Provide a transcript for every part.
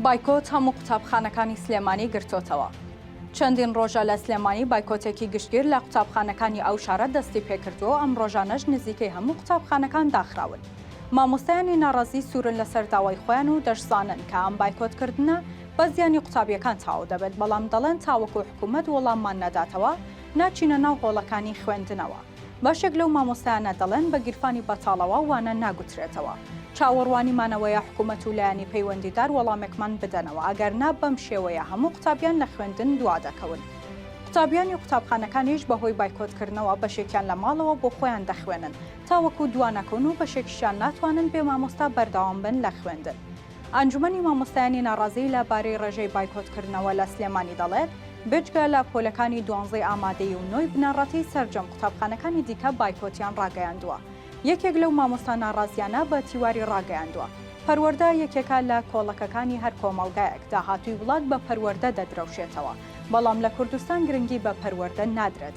بایکۆت هەموو قوتابخانەکانی سلێمانی گرتۆتەوە. چەندین ڕۆژە لە سلێمانی بایکۆتێکی گشتگیر لە قوتابخانەکانی ئەو شارە دەستی پێکردووە و ئەم ڕۆژانەش نزیکەی هەموو قوتابخانەکان داخراون. مامۆستایانی ناڕازی سوورن لەسەر داوای خۆیان و دەشزانن کە ئەم بایکۆتکردنە بە زیانی قوتابییەکان تەواو دەبێت، بەڵام دەڵێن تاوەکو حکوومەت وەڵاممان نەداتەوە، ناچینە ناو هۆڵەکانی خوێندنەوە. بەشێک لەو مامۆستایانە دەڵێن بە گیرفانی بەتاڵەوە وانە ناگوترێتەوە. چاوەڕوانی مانەوەیە حکومەت و لایەنی پەیوەندیدار وەڵامێکمان بدەنەوە، ئەگەر نا بەم شێوەیە هەموو قوتابیان لە خوێندن دوادەکەون. قوتابیانی قوتابخانەکانیش بەهۆی بایکۆتکردنەوە بەشێکیان لە ماڵەوە بۆ خۆیان دەخوێنن تاوەکو دوانەکەون و بەشێکیشیان ناتوانن بێ مامۆستا بەردەوام بن لە خوێندن. ئەنجومەنی مامۆستایانی ناڕازی لە بارەی ڕێژەی بایکۆتکردنەوە لە سلێمانی دەڵێت، بێجگە لە پۆلەکانی دوانزەی ئامادەیی و نۆی بنەڕەتی سەرجەم قوتابخانەکانی دیکە بایکۆتیان ڕاگەیاندووە. یەکێک لەو مامۆستا ناڕازییانە بە تیواری ڕاگەیاندووە، پەروەردە یەکێکە لە کۆڵەکەکانی هەر کۆمەڵگایەک، داهاتووی وڵات بە پەروەردە دەدرەوشێتەوە، بەڵام لە کوردستان گرنگی بە پەروەردە نادرێت،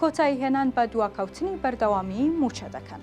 کۆتایی هێنان بە دواکەوتنی بەردەوامیی مووچە دەکەن.